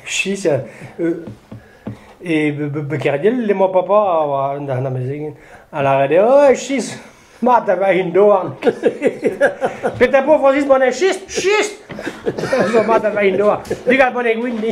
Chis e Kerdiel emañ papa a oa an amezegin a lâret eo oh chis mat a va hin doan petra po Francis bon e chis chis zo mat a va hin doan digal bon e gwin ni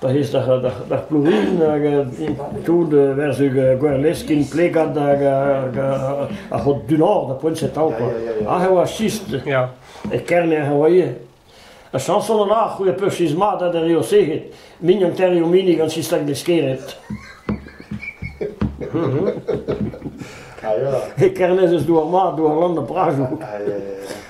Pa ez d'ar pourrin hag tout war-zu Gwerleskiñ plegad hag ar c'hod du-nor da Poinsetav kwa. Aze e oa sist e Kerner e oa ivez. Ha Samson an Arc'h c'hwec'h peursiz mat ha d'ar eo sec'hed. Mignon terriñ o minig gant sistag deskered. E Kernez eus douar mat, douar lann da Prajoù.